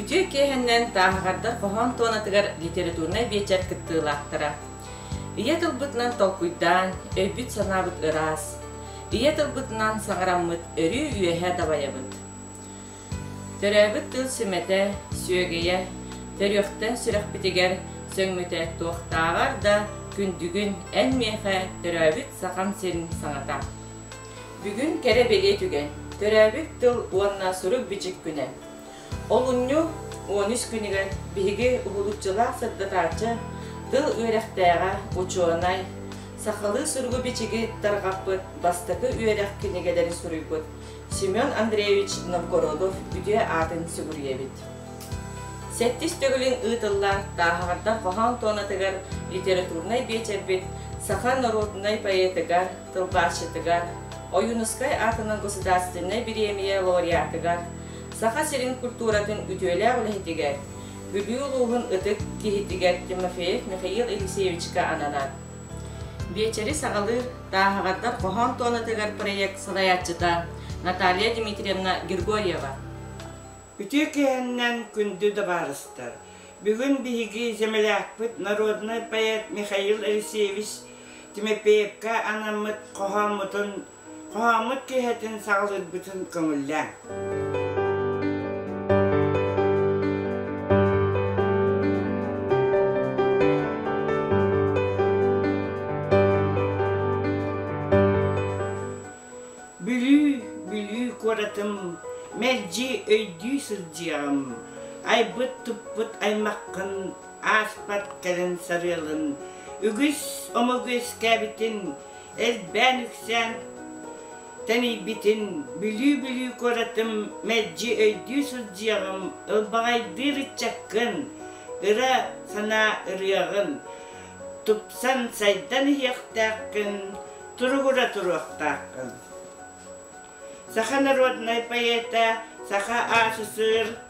Үтүө киэһэннэн тааһаҕардар хоһоон туонатыгар литературнай биэчэр кыттыылаахтара. Ийэ тылбытынан толкуйдаан, өйбүт-санаабыт ыраас. Ийэ тылбытынан саҥараммыт өрүү үөһэ дабайабыт. Төрөөбүт тыл сүмэтэ, сүөгэйэ, төрүөхтэн сүрэхпитигэр сөҥмүтэ туохтааҕар да күндүгүн эн миэхэ төрөөбүт Сахам сирин саҥата. Бүгүн кэрэ-бэлиэ түгэн, төрөөбүт тыл уонна сурук-бичик күнэ. Олунньу он үс күнүгэр биһиги уһулуччулаах сырдатааччы, тыл үөрэхтээҕэ учуонай, сахалыы суругу-бичиги тарҕаппыт бастакы үөрэх кинигэлэри суруйбут Семен Андреевич Новгородов үтүө аатын сүгүрүйэбит. Сэттис төгүлүн ыытылла Тааһаҕардар хоһоон туонатыгар литературнай биэчэрбит саха норуодунай поэтыгар, тылбаасчытыгар, Ойуунускай аатынан государственнай бириэмийэ лауреатыгар, Саха сирин культуратын үтүөлээх үлэһитигэр, Бүлүү улууһун ытык киһитигэр Тимофеев Михаил Алексеевичка ананар. Биэчэри саҕалыыр Тааһаҕардар хоһоон туонатыгар проект салайааччыта Наталья Дмитриевна Григорьева. Үтүө киэһэннэн күндү дабаарыстар! Бүгүн биһиги землякпыт народнай поэт Михаил Алексеевич Тимофеевка анаммыт хоһооммутун Хоһооммут киэһэтин саҕалыырбытын көҥүллээҥ. Бүлүү, Бүлүү куоратым, мэлдьи өйдүү сылдьыаҕым. Айбыт-туппут аймаххын, ааспат кэлин сарыалын. Үгүс омогу үөскээбитин элбээн-үксээн тэнийбитин билии-билии куоратым мэлдьи өйдүү сылдьыаҕым ылбаҕайдыыр ыччаккын ыра санаа ырыаҕын тупсан сайдан иһиэхтээххин туругура туруохтааххын саха народнай поэта саха аасысыыр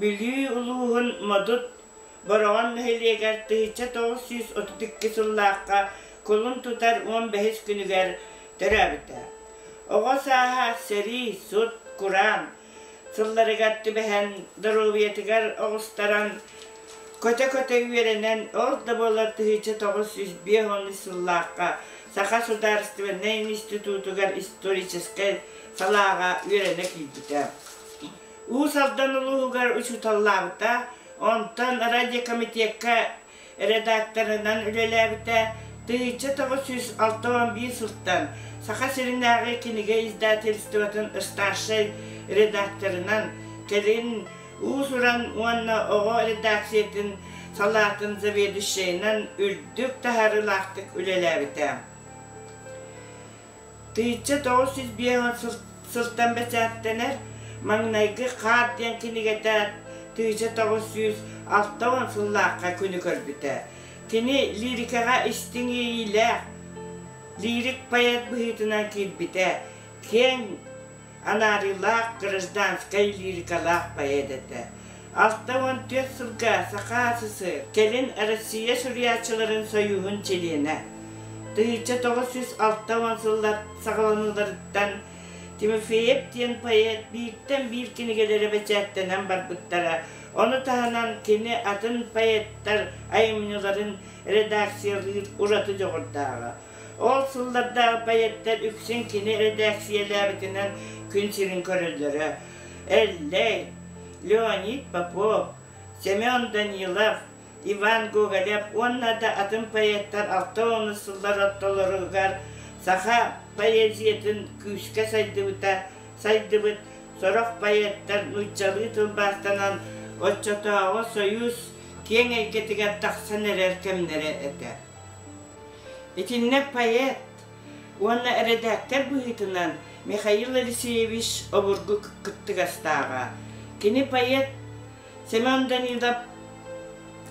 Бүлүү улууһун Модут Бороҕон нэһилиэгэр тыһычча тоҕус сүүс отут икки сыллаахха кулун тутар уон бэһис күнүгэр төрөөбүтэ. Оҕо сааһа сэрии, сут, кураан сылларыгар түбэһэн доруобуйатыгар оҕустаран көтө-көтө үөрэнэн ол да буоллар тыһычча тоҕус сүүс биэс уон сыллаахха Саха судаарыстыбаннай институтугар историческай салааҕа үөрэнэ киирбитэ. Уус Алдан улууһугар учууталлаабыта, онтон радиокомитекка редакторынан үлэлээбитэ, тыһыынча тоҕус сүүс алта уон биир сылтан Саха сиринээҕи кинигэ издательствотын старшай редакторынан, кэлин уус-уран уонна оҕо редакциятын салаатын заведующайынан үрдүк таһаарыылаахтык үлэлээбитэ. Тыйычча тоҕус сүүс биэс сылтан бэчээттэнэр «Маҥнайгы хаар» диэн кинигэтэ тыйыча тоҕус сүүс алта уон сыллаахха күнү көрбүтэ. Кини лирикаҕа истиҥ иэйиилээх, лирик поэт быһыытынан киирбитэ, киэҥ анаарыылаах гражданскай лирикалаах поэт этэ. Алта уон түөрт сылга Саха СС кэлин Россия Суруйааччыларын Союһун чилиэнэ. Тыһыча тоҕус жүз алта уон сыллар саҕаланыыларыттан Тимофеев диэн поэт бииртэн биир кинигэлэрэ бэчээттэнэн барбыттара. Ону таһынан кини атын поэттар айымньыларын редакциялыыр ураты дьоҕурдааҕа. Ол сыллардаах поэттар үксүн кини эрэдээксийэлээбитинэн күн сирин көрөллөрө. Эллэй, Леонид Попов, Семен Данилов, Иван Гоголев уонна да атын поэттар алта уонус сыллар ортолоругар саха поэзиятын күүскэ сайдыбыта сайдыбыт сорох поэттар нууччалыы тылбаастанан оччотооҕу союз киэҥ эйгэтигэр тахсан эрэр кэмнэрэ этэ. Итиннэ поэт уонна эрэдээктэр быһыытынан Михаил Алексеевич обургу кыттыгастааҕа. Кини поэт Семен Данилов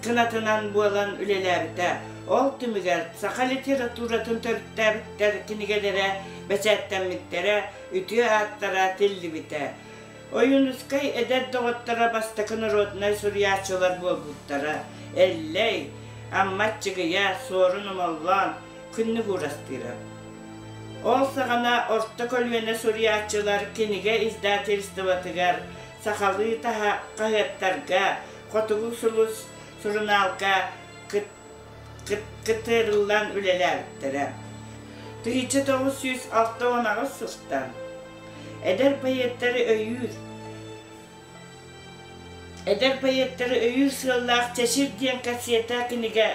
кынатынан буолан үлэлээбитэ. Ол түмүгэр саха литературатын төрүттээбиттэр кинигэлэрэ бэчээттэммиттэрэ, үтүө ааттара тиллибитэ. Ойуунускай эдэр доҕотторо бастакы норуодунай суруйааччылар буолбуттара, Эллэй, Амма Аччыгыйа, Суорун Омоллоон, Күннүк Уурастыыра. Ол саҕана орто көлүөнэ суруйааччылар кинигэ издательствотыгар, сахалыы таһа хаһыаттарга, Хотугу сулус сурунаалга кыттыырыллан үлэлээбиттэрэ. Тыһычча тоҕус сүүс алта уон аҕыс сылтан эдэр поэттары өйүүр эдэр поэттары өйүүр сыаллаах Чэчир диэн кассета кинигэ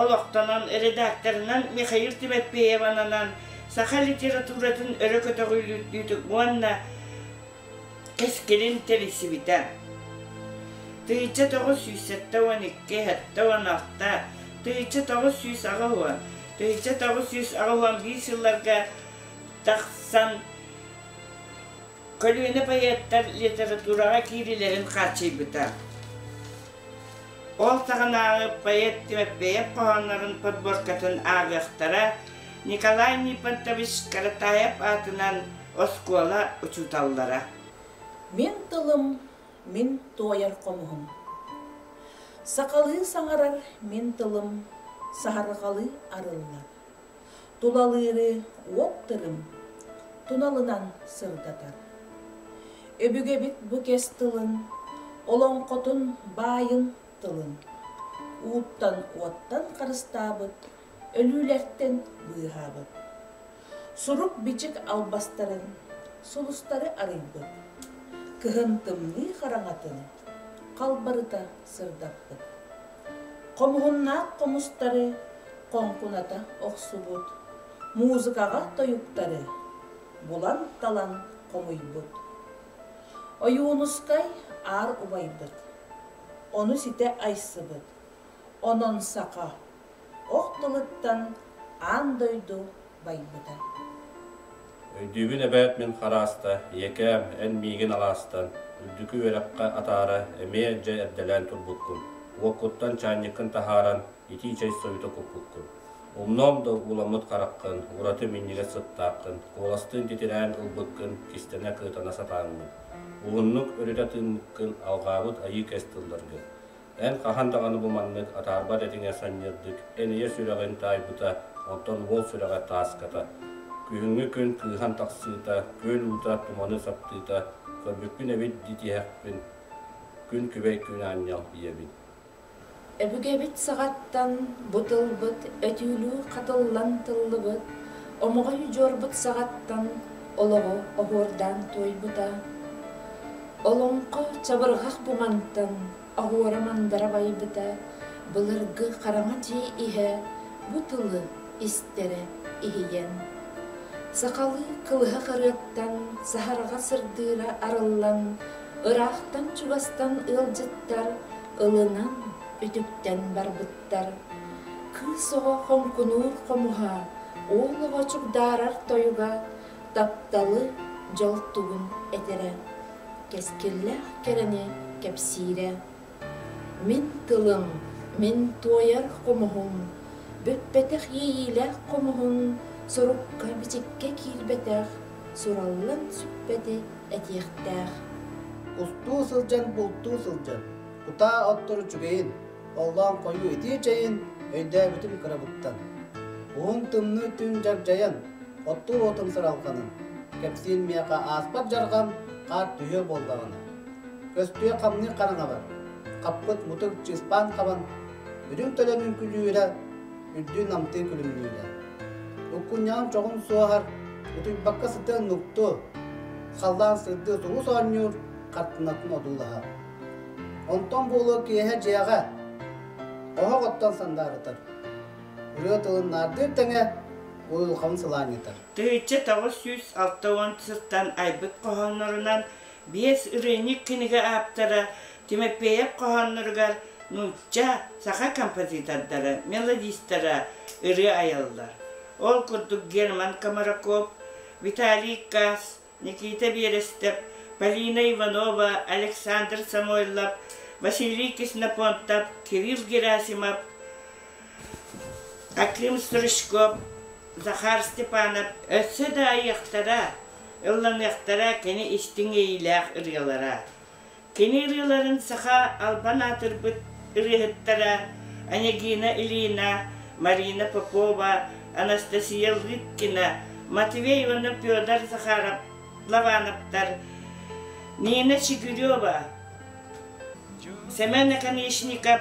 олохтонон редакторынан Михаил Тибетпеевананан саха литературатын өрө көтөҕүүлүүтүк уонна Кэс кэлин тэрисибитэ. Тыыча тоҕус сүүс сэттэ уон икки сэттэ уон алта Тыыча тоҕус сүүс аҕыс уон Тыыча тоҕус сүүс аҕыс уон биир сылларга тахсан көлүөнэ поэттар литератураҕа киириилэрин хааччыйбыта. Ол таҕынааҕы поэт Түмэппэйэп хоһооннорун подборкатын ааҕыахтара Николай Нипонтович Каратаев аатынан Оскуола учууталлара. Мин тылым, мин туойар хомуһум. Сахалыы саҥарар мин тылым, саһарҕалыы арыллар. Тулалыыры уот тырым, туналынан сырдатар. Өбүгэбит бу кэс тылын, олоҥхотун баайын тылын, ууттан-уоттан харыстаабыт, өлүүлэртэн быыһаабыт. сурук-бичик албастарын, сулустары арыйбыт, кыһын тымныы хараҥатын халбарыта сырдаппыт. Хомуһуннаах хомустары хоҥкуната охсубут, музыкаҕа тойуктары булан-талан хомуйбут. Ойуунускай аар убайбыт, ону ситэ айсыбыт, онон саха ох тылыттан аан дойду байбыта. Өйдүүбүн эбээт мин харааста, ийэкээм, эн миигин алаастан, үрдүкү үөрэххэ атаара эмиэ дьэ эрдэлээн турбуккун, уоккуттан чаанньыккын таһааран итии чэй сойута куппуккун. Умнуом да ууламмыт хараххын, ураты минньигэс сыттааххын, куоластыын титирээн ылбыккын кистэнэ-кыытана сатааммын. Уһуннук өрүтэ тыыммыккын алҕаабыт айыы кэс тылларгын. Эн хаһан даҕаны бу маннык атаарбат этиҥэ санньырдык Энэйэ сүрэҕин таайбыта, оттон уол сүрэҕэ тааската. Күһүҥҥү күн кыыһан тахсыыта, күөл уута туманы саптыыта, көрбүппүн эбит дии тиһэхпин, күн күбэй күн аанньал ийэбин. Өбүгэбит саҕаттан бу тылбыт өтүүлүү хатыллан тыллыбыт, омоҕой удьуорбут саҕаттан олоҕу оһуордаан туойбута. Олоҥхо чабырҕах бумантан оһуора мандара байбыта, былыргы хараҥа дьиэ иһэ бу тылы истэрэ иһийэн. Сахалыы кылыһах ырыаттан саһарҕа сырдыыра арыллан, ыраахтан-чугастан ыалдьыттар ылынан үтүктэн барбыттар. Кыыс оҕо хоҥкунуур хомуһа, уол оҕо чугдаарар тойуга тапталы, дьол тугун этэрэ, кэскиллээх кэрэни кэпсиирэ. Мин тылым, мин туойар хомуһум, бүппэтэх иэйиилээх хомуһун сорукка-бичиккэ киирбэтэх, сураллан сүппэти этиэхтээх. Кустуу сылдьан бултуу сылдьан, кутаа оттору үчүгэйин, Оллоон хойуу итии чэйин өйдөөбүтүм кырабыттан. Уһун тымныы түн дьагдьайан, оттуу уотум сыралҕанын, кэпсиин миэхэ ааспат дьарҕам хаар түһүө буоллаҕына. Көстүө хамныы хараҥабар, хаппыт мутук чыыспаан хабан, үрүҥ төлөнүн күлүүрэ, үрдүү намтыы күлүмнүүрэ. Уккунньаҕым чоҕун суоһар, утуйбакка сытыан нуктуу, халлаан сырдыы сулус оонньуур, хартынатын одуулаһар. Онтон буолуо киэһэ дьиэҕэ оһох оттон сандаарытар. Ырыа тылын наардыыр тэҥэ уйулҕаны сылаанньытар. Тыһычча тоҕус сүүс алта уон сылтан айбыт хоһооннорунан биэс ырыынак кинигэ ааптара Тимофеев хоһоонноругар нуучча, саха композитордара, мелодистара ырыа айаллар. Ол курдук Герман Комараков, Виталий Касс, Никита Берестов, Полина Иванова, Александр Самойлов, Василий Кислопонтов, Кирилл Герасимов, Аким Стручков, Захар Степанов өссө да айыахтара, ылланыахтара кини истиҥ эйиилээх ырыалара. Кини ырыаларын саха албан аатырбыт ырыаһыттара Онегина Ильина, Марина Попова, Анастасия Лыткина, Матвей уонна Петр Захаров, Лавановтар, Нина Чигирева, Сэмэн Наконечников,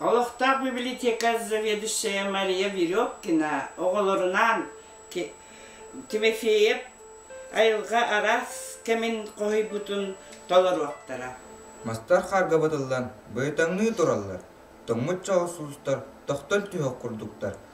Олохтоох библиотека заведующая Мария Веревкина оҕолорунаан Тимофеев айылҕа араас кэмин хоһуйбутун толоруохтара. Мастар хаарга батыллан, быһытаҥныы тураллар. Тоҥмут чоҕус уулуттар тохтон түһүөх курдуктар,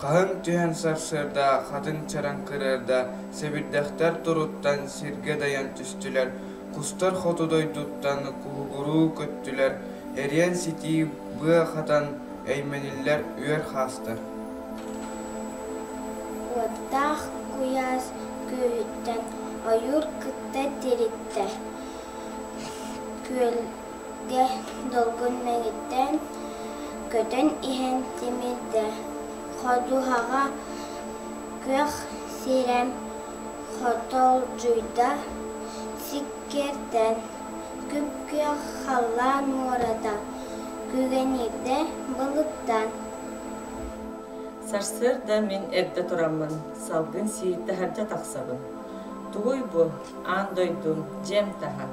Хаһыҥ түһэн сарсыарда хатыҥ чараҥ кырыарда сэбирдэхтэр туруттан сиргэ дайан түстүлэр, кустар хоту дойдуттан куһугуруу көттүлэр, эриэн-ситии быа хатан эймэниллэр үөр хаастар Уоттаах куйаас күөлүттэн ойуур кытта тириттэ. Күөл дэ долгун мэҥиттэн көтөн иһэн тимирдэ ходуһаҕа күөх сирэм хотолдьуйда сиккирдэн күп-күөх халлаан муората күгэниирдэ былыттан сарсыарда мин эрдэ тураммын салгын сиир таһырдьа тахсабын тугуй бу аан дойду дьиэм таһа,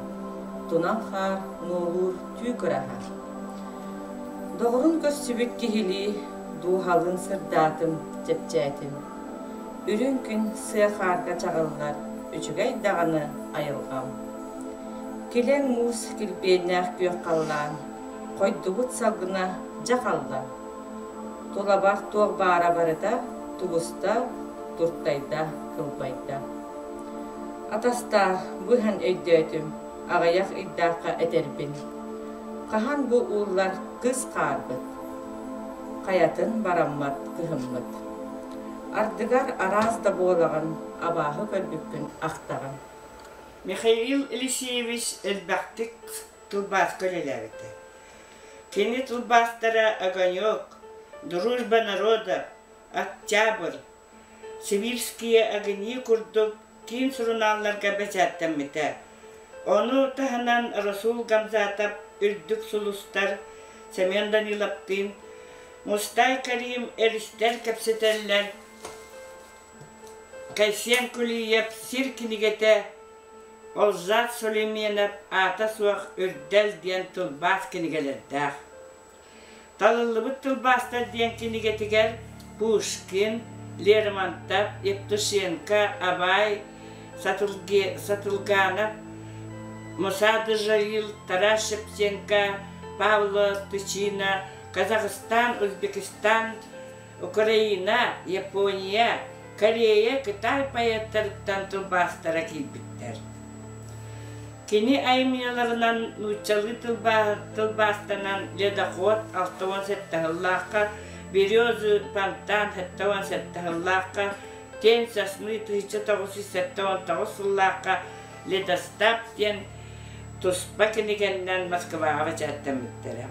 тунал хаар нуолуур түү кыраһа. Доҕорун көрсүбүт киһилии дууһалыын сырдаатым, чэпчээтим. Үрүҥ күн сыа хаарга чаҕыллар үчүгэй даҕаны айылҕам. Килэҥ муус килбиэннээх күөх халлаан хойдубут салгына дьахалла. Тулабах туох баара барыта тугуста, туртайда, кылбайда. Атастаах, бу иһэн өйдөөтүм, аҕыйах ыйдаахха этэрбин. Хаһан бу ууллар кыс хаарбыт? Хайатын бараммат кыһыммыт. Ардыгар араас да буолаҕын, абааһы көрбүккүн ахтаҕын. Михаил Елисеевич элбэхтик тылбааска үлэлээбитэ. Кини тылбаастара «Огонек», «Дружба народов», «Октябрь», Сибирские огни курдук киин сурунаалларга бэчээттэммитэ. Ону таһынан Расул Гамзатов Үрдүк сулустар, Семен Даниловтыын, Мустай Карим эристэр кэпсэтэллэр, Кайсен Кулиев сир кинигэтэ, Олжас Сулейменов аата суох Үрдэл диэн тылбаас кинигэлэрдээх. Талыллыбыт тылбаастар диэн кинигэтигэр Пушкин, Лермонтов, Евтушенко, Абай, Сатылге, Сатылганов, Муса Дежаил, Тарас Шевченко, Павло Тычина, Казахстан, Узбекистан, Украина, Япония, Корея, Кытай поэттарыттан тылбаастара киирбиттэр. Кини айымньыларынан нууччалыы тылбаастанан ледоход 68 ыллаахха, березы фонтан 78 ыллаахха, тен сосны 1919 ыллаахха ледостав диэн туспа кинигэннэн Москваҕа бэчээттэммиттэрэ.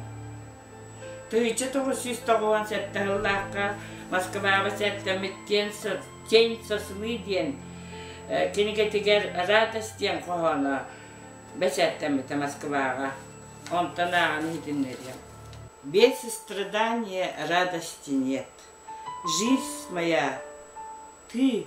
тыйча тоҕус сүүс тоҕуон сэттэ сыллаахха Москваҕа сэргэммит «Тень сосны» диэн кинигэтигэр «Радость» диэн хоһооно бэчээттэммитэ Москваҕа. Онтон ааҕан иһитиннэриэм. Без страдания радости нет. Жизнь моя, ты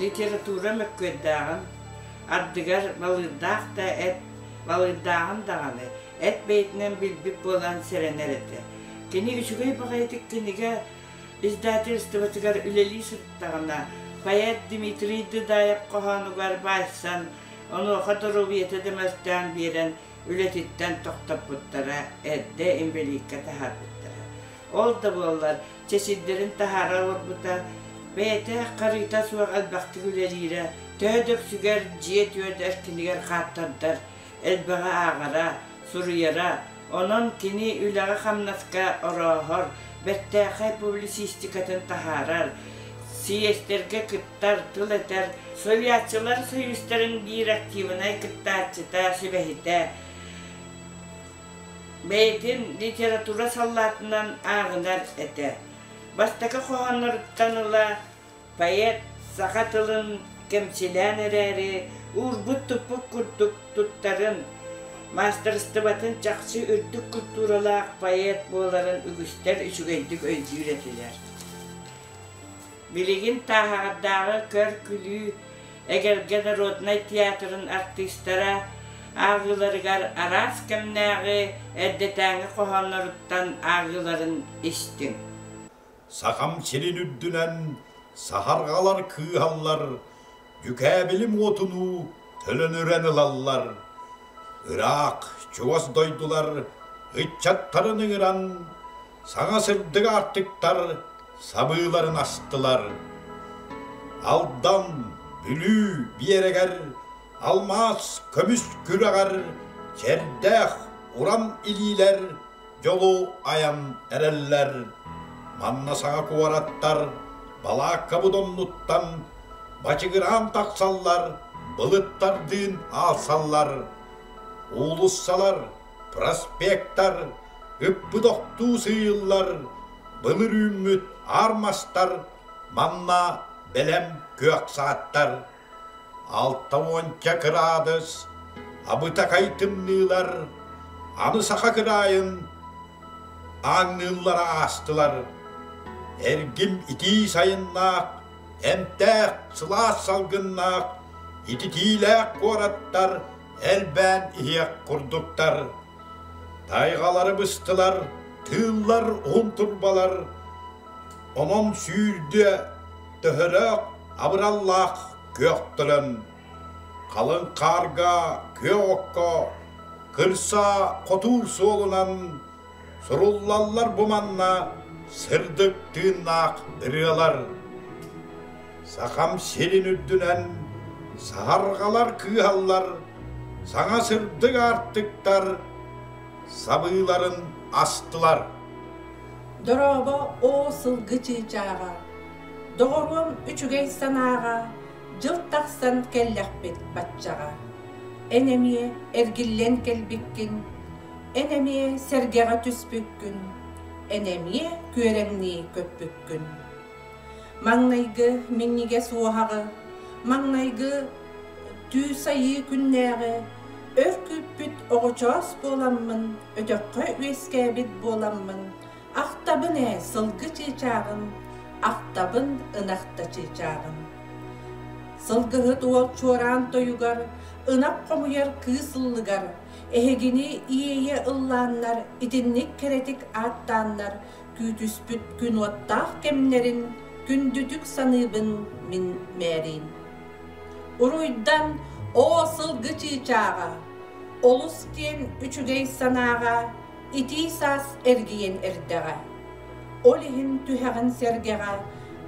Литература мөккүөрдээҕин ардыгар Балыырдаах да эт, Балыырдааҕын даҕаны эт бэйэтинэн билбит буолан сэрэнэр этэ. Кини үчүгэй баҕайытык кинигэ издательствотыгар үлэлии сырыттаҕына, поэт Дмитрий Дыдаев хоһоонугар баайсан, онуоха доруобуйата да мөлтөөн биэрэн, үлэтиттэн тохтоппуттара, эрдэ инбэлииккэ таһаарбыттара. Ол да буоллар, чэ сирдэрин таһаара олорбута, бэйэтэ харыыта суох элбэхтик үлэлиирэ, төһө да үксүгэр дьиэ-түөт эркинигэр хааттардар элбэҕи ааҕара, суруйара. Онон кини үлэҕэ-хамнаска орооһор, бэртээхэй публицистикатын таһаарар, сийиэстэргэ кыттар, тыл этэр. Суруйааччылар союзтарын биир активнай кыттааччыта, сүбэһитэ, бэйэтин литература саллаатынан ааҕынар этэ. Бастакы хоһоонноруттан ыла поэт саха тылын кэмчилээн эрээри, уурбут-туппут курдук туттарын, маастарыстыбатын чахчы үрдүк культуралаах поэт буоларын үгүстэр үчүгэйдик өйдүүр этилэр. Билигин Тааһаардааҕы көр-күлүү эгэлгэ народнай театрын артыыстара ааҕыыларыгар араас кэмнээҕи эрдэтээҥи хоһоонноруттан ааҕыыларын истиҥ. Сахам сирин үрдүнэн саһарҕалар кыыһаллар Дьүкээбилим уотунуу төлөнүрэн ылаллар. Ыраах, чугас дойдулар ыччаттарын ыҥыран, саҥа сырдык аартыктар сабыыларын астылар. Алдан, Бүлүү биэрэгэр алмаас көмүс күрэҕэр чэрдээх урам илиилэр дьолу айан эрэллэр. Манна саҥа куораттар балааккабыт оннуттан бачыгыраан тахсаллар, былыттардыын аалсаллар. Уулуссалар, проспектар, үппүт охтуу сыыйыллар, былыр үүммүт аар мастар манна бэлэм күөх сааттар. Алта уонча кыраадыс абытакай тымныылар аны саха кыраайын ааҥныыллара аастылар. Эргим итии сайыннаах, эмтээх, сылаас салгыннаах, ититиилээх куораттар элбээн иһиэх курдуктар. Тайгалары быстылар, тыыллар уһун турбалар, онон сүүрдүө Төһөлөөх абыраллаах күөхтэрин халыҥ хаарга күөх окко кырса хотуур суолунан суруллаллар бу манна сырдык тыыннаах ырыалар Сахам сирин үрдүнэн саһарҕалар кыыһаллар саҥа сырдык аартыктар сабыыларын астылар Дорообо оо сылгы чыычааҕа, доҕоруом үчүгэй санааҕа дьыл тахсан кэллэхпит баччаҕа. Эн эмиэ эргиллэн кэлбиккин, эн эмиэ сэргэҕэ түспүккүн, эн эмиэ күөрэҥнии көппүккүн Маҥнайгы минньигэс уоһаҕы, маҥнайгы Түүс Айыы күннээҕи өр күүппүт оҕочоос буоламмын, өтөххө үөскээбит буоламмын, ахтабын ээ сылгы чыычааҕым, ахтабын ынахта чыычааҕым. Сылгыһыт уол чуораан тойугар, ынах хомуйар кыыс ыллыгар, эһигини иэйэ ыллааннар, итинник кэрэтик ааттааннар, күүтүспүт күн уоттаах кэмнэрин күндүтүк саныыбын мин мээрин уруйдан оо сылгы чыычааҕа олус киэн үчүгэй санааҕа итии саас эргийэн эрдэҕэ ол иһин түһэҕин сэргэҕэ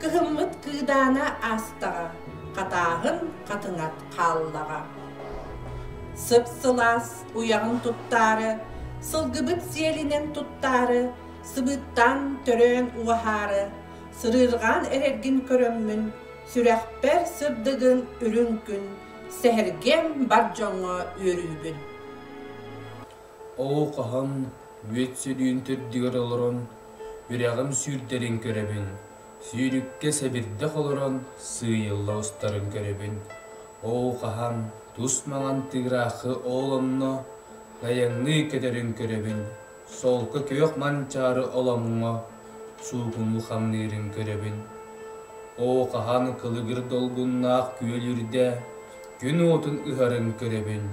кыһыммыт кыыдаана аастаҕа хатааһын хатыҥат хааллаҕа сып сылаас уйаҕын туттаары сылгыбыт сиэлинэн туттаары сыбыыттаан төрөөн уһаары, сырыырҕаан эрэргин көрөммүн, сүрэхпэр сырдыгын үрүҥ күн, сэһэргиэм бар дьоҥҥо үөрүүбүн. Оо хаһан мүөт сөрүүн төрдүгэр олорон, үрэҕим сүүрдэрин көрөбүн, сүүрүккэ сэбирдэх олорон сыыйылла устарын көрөбүн. Оо хаһан тус маҥан тыыраахы ол онно айанныы көтөрүн көрөбүн. Солко күөх манчаары олоҥҥо суугунну хамныырын көрөбүн. Оо, хаһан кылыгыр долгуннаах күөл үрдэ күн уотун ыһарын көрөбүн.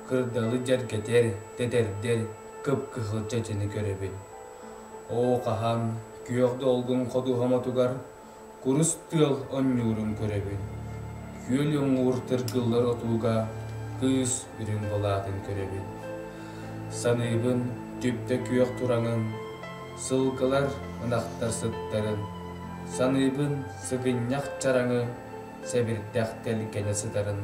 Кырдалы дьэргэтэр, тэтэрдэр кып-кыһыл чэчэни көрөбүн. Оо, хаһан күөх долгун ходуһаматугар курус тыал онньуурун көрөбүн. Күөл уҥуур тыргыллар отууга кыыс үрүҥ былаатын көрөбүн. Саныыбын түптэ күөх тураҥын, сылгылар ынахтар сыттарын. Саныыбын сыгынньах чараҥы сэбирдэх тэлгэнэ сытарын.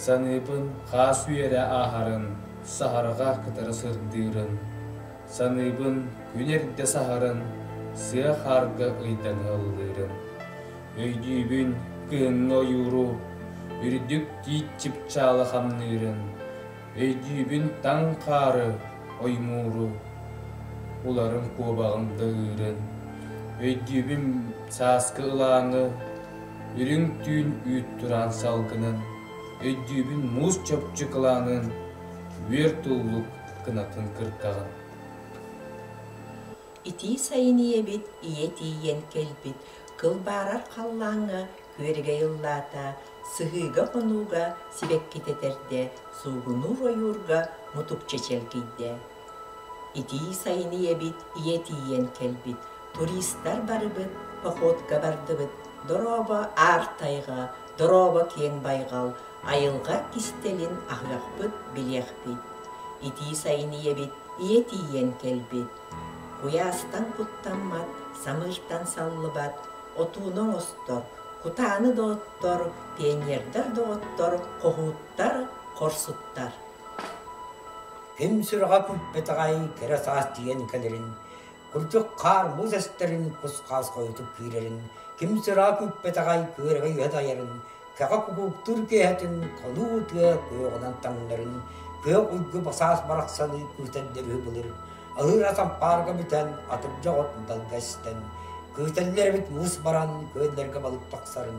Саныыбын хаас үөрэ ааһарын, саһарҕа кытары сырдыырын. Саныыбын, күн эрдэ саһарын, сыа хаарга ыйдана ыллыырым. Өйдүүбүн, кыһыҥҥы ойууру, үрдүк тиит чыпчаалы хамныырын. Өйдүүбүн таҥ хаары, оймууру, уларым куобаҕым даһыырын. Өйдүүбүн сааскы ылааҥы, үрүҥ түүн үүт тураан салгынын. Өйдүүбүн муус чопчу кылаанын, үөр туллук кынатын кыртаҕын. Итии сайын ийэбит ийэ тиийэн кэлбит кыл баарар халлааҥҥа күөрэгэй ыллаата, сыһыыга-хонууга сибэккитэ этэрдэ, суугунуур ойуурга мутукча чэлгийдэ. Итии сайын ийэбит ийэ тиийэн кэлбит, туристар барыбыт походка бардыбыт, дорообо аар тайҕа, Дорообо киэҥ байҕал айылҕа кистэлин аһыахпыт, билиэхпит. Итии сайын ийэбит ийэ тиийэн кэлбит. Куйаастан куттаммат, самыыртан саллыбат, отууну оҥостор, кутааны да оттор, пионердар да оттор, хоһууттар, хорсуттар. Ким сүрэҕэ куппет аҕай кэрэ саас тиийэн кэлэрин курдук хаар муус эстэрин кус-хаас хойутук киирэрин, ким сыraa күппэтэҕэй күөрэгэй үһэ тайарын, кэҕэ кукууктуур киэһэтин хонуу тыа куйоҕунан таҥнарын, күөх уйгу басаас барахсаны күүтэллэр үһү былыр, алыр ат ампаарга бүтэн, атырдьа оҕот далга эстэн, күүтэллэр эбит муус баран, күөллэргэ балык тахсарын,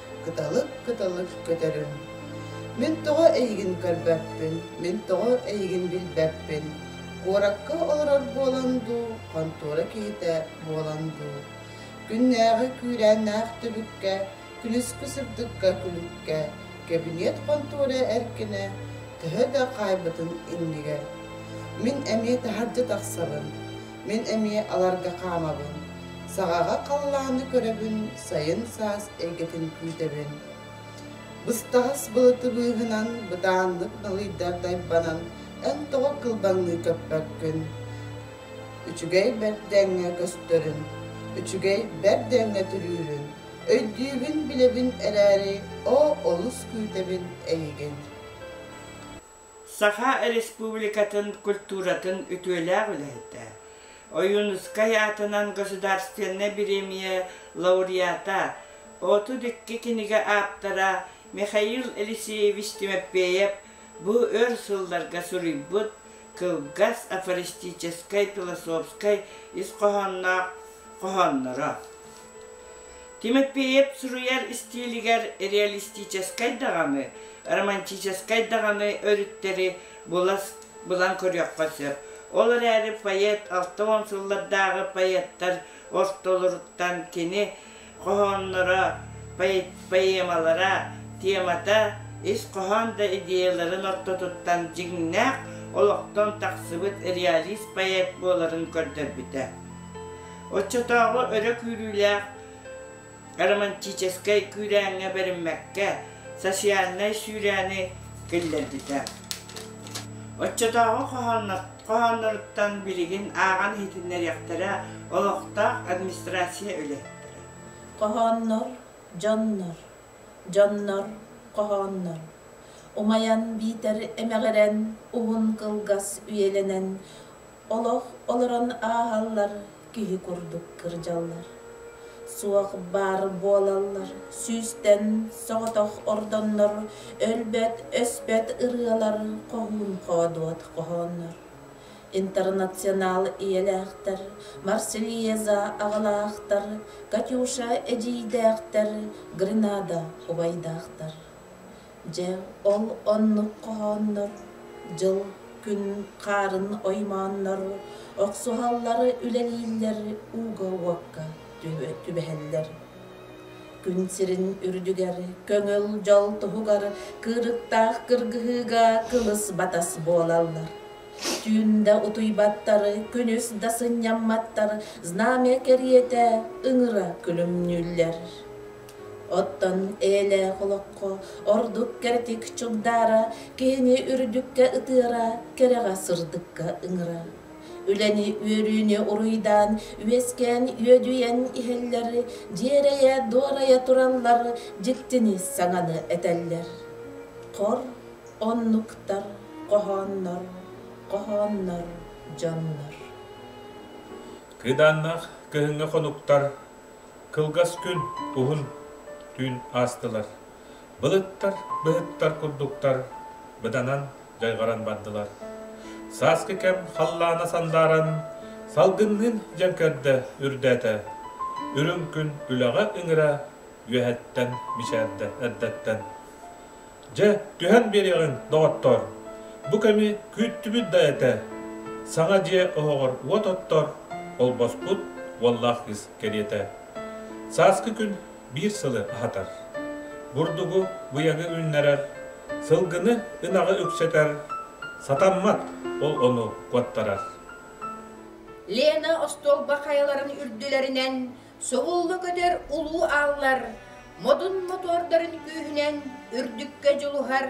кыталык-кыталык көтөрүм. Мин тоҕо эйигин көрбөппүн, мин тоҕо эйигин билбэппин, куоракка олорор буолан дуу, хонтуора киһитэ буолан дуу, күннээҕи күүрээннээх түбүккэ, күнүскү сырдыкка күлүккэ, кэбиниэт хонтуора эркинэ төһө да хаайбытын иннигэр, мин эмиэ таһырдьа тахсабын, Мин эмиэ аларга хаамабын, саҕаҕа халлааны көрөбүн, сайын саас эйгэтин күүтэбин. Быстаҕас былытыбыыһынан бытааннык далыйдар дайбанан эн тоҕо кылбаҥныы көппөккүн. Үчүгэй бэрдээҥҥэ көстөрүн, үчүгэй бэрдээҥҥэ түрүүрүн, өйдүүбүн-билэбин эрээри, оо олус күүтэбин эйигин. Саха Республикатын культуратын үтүөлээх үлэһитэ, Ойуунускай аатынан государственнай бириэмийэ лауреата, Отут икки кинигэ ааптара Михаил Алексеевич Тимофеев бу өр сылларга суруйбут кылгас афористическай философскай ис хоһоонноох хоһоонноро. Тимопеев суруйар истиилигэр реалистическай даҕаны, романтическай даҕаны өрүттэри булан көрүөххэ сөп. Ол эрээри поэт алта уон сыллардааҕы поэттар ортолоруттан кини хоһоонноро, поэмалара, темата ис хоһоон да идеяларын ортотуттан дьиҥнээх олохтон тахсыбыт реалист поэт буоларын көрдөрбүтэ. Оччотооҕу өрө күүрүүлээх романтическай күүрээҥҥэ бэриммэккэ, социальнай сүүрээни киллэрбитэ. Оччотооҕу хоһоонноруттан билигин ааҕан иһитиннэриэхтэрэ олохтоох администрация үлэһиттэрэ. Хоһооннор, дьоннор. Дьоннор, хоһооннор. Умайан биитэр эмэҕирэн уһун кылгас үйэлэнэн олох олорон ааһаллар, киһи курдук кырдьаллар. Суох баар буолаллар, сүүстэн соҕотох ордоннор, өлбөт-өспөт ырыалар хоһуун-хоодуот хоһооннор. Интернационал ийэлээхтэр, Марсельеза аҕалаахтар, Катюша эдьиийдээхтэр, Гренада убайдаахтар. Дьэ, ол оннук хоһооннор дьыл-күн хаарын оймооннору, охсуһаллары үлэлииллэр ууга-уокка түбэһэллэр. Күн сирин үрдүгэр көҥүл дьол туһугар кыырыктаах кыргыһыыга кылыс-батас буолаллар. Түүн да утуйбаттары, күнүс да сынньамматтар знамя кэриэтэ ыҥыра күлүмнүүллэр. Оттон эйэлээх олоххо ордук кэрэтик чугдаара, киһини үрдүккэ ытыара, кэрэҕэ сырдыкка ыҥыра. Үлэни үөрүүнү уруйдаан, үөскээн үөдүйэн иһэллэр, дьиэрэйэ-дуорайа тураллар, дьиктини саҥаны этэллэр. Хор оннуктар, хоһооннор, хоһооннор дьоннор. Кыдааннаах кыһыҥҥы хонуктар Кылгас күн, уһун түүн аастылар. Былыттар, быһыттар курдуктар быданан, дьайҕаран бардылар. Сааскы кэм халлаана сандааран, салгынныын дьэн көрдө үрдээтэ. Үрүҥ күн үлэҕэ ыҥыра, үөһэттэн мичээрдэ эрдэттэн. Дьэ, түһэн биэриэҕиҥ, доҕоттоор. Бу кэми күүттүбүт да этэ. Саҥа дьиэ оһоҕор уот оттор, холбоспут уоллаах кыыс кэриэтэ. Сааскы күн биир сылы аһатар. Бурдугу, быйаҥы үүннэрэр, сылгыны, ынаҕы үксэтэр. Сатаммат, ол ону куоттарар. Лена остуолба хайаларын үрдүлэринэн Субулла көтөр улуу ааллар модун мотуордарын күүһүнэн үрдүккэ дьулуһар,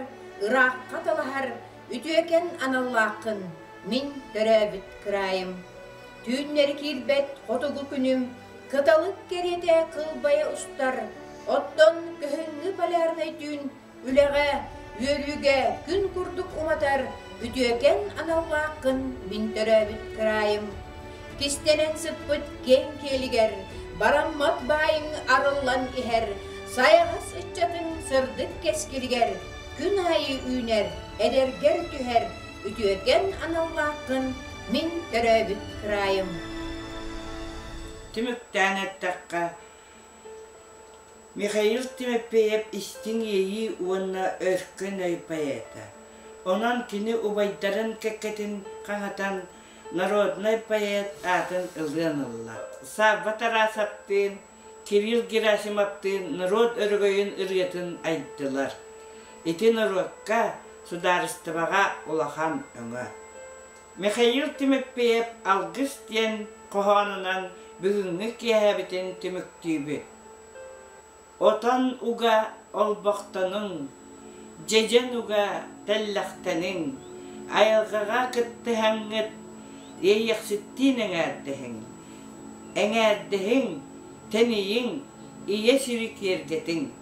ыраахха талаһар үтүөкэн аналлааххын мин төрөөбүт кыраайым. Түүннэри киирбэт хотугу күнүм кыталык кэриэтэ кылбайа устар, оттон кыһыҥҥы полярнай түүн үлэҕэ, үөрүүгэ күн курдук уматар үтүөкэн аналлаах кын мин төрөөбүт кыраайым. Кистэнэн сыппыт киэҥ киэлигэр бараммат баайыҥ арыллан иһэр сайаҕас ыччатын сырдык кэскилигэр күн аайы үүнэр, эдэргэр түһэр үтүөкэн аналлаах кын мин төрөөбүт кыраайым. Түмүктээн эттэххэ, Михаил Тимофеев истиҥ иэйии уонна өркөн өй поэта. Онон кини убайдарын кэккэтин хаһатан народнай поэт аатын ылыан ылла. Савва Тарасовтыын, Кирилл Герасимовтыын норуот өрөгөйүн ырыатын айдылар. Ити норуокка, судаарыстыбаҕа улахан өҥө. Михаил Тимофеев алгыс диэн хоһоонунан бүгүҥҥү киэһэбитин түмүктүүбүт. Отон уга олбохтонуҥ, дьэдьэн уга тэллэхтэниҥ, айылҕаҕа кыттыһаҥҥыт, иэйэхситтиин эҥээрдэһиҥ, эҥээрдэһиҥ, тэнийиҥ, ийэ сири киэргэтиҥ.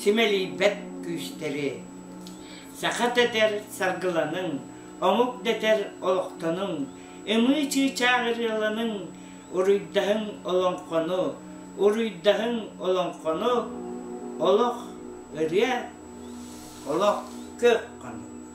симэлийбэт күүстэри, саха тэтэр саргыланыҥ, омук дэтэр олохтонуҥ, ымыы чыычаах ырыаланыҥ, уруйдаһыҥ олоҥхону, уруйдаһыҥ олоҥхону, олох ырыа, олох кыах хонук.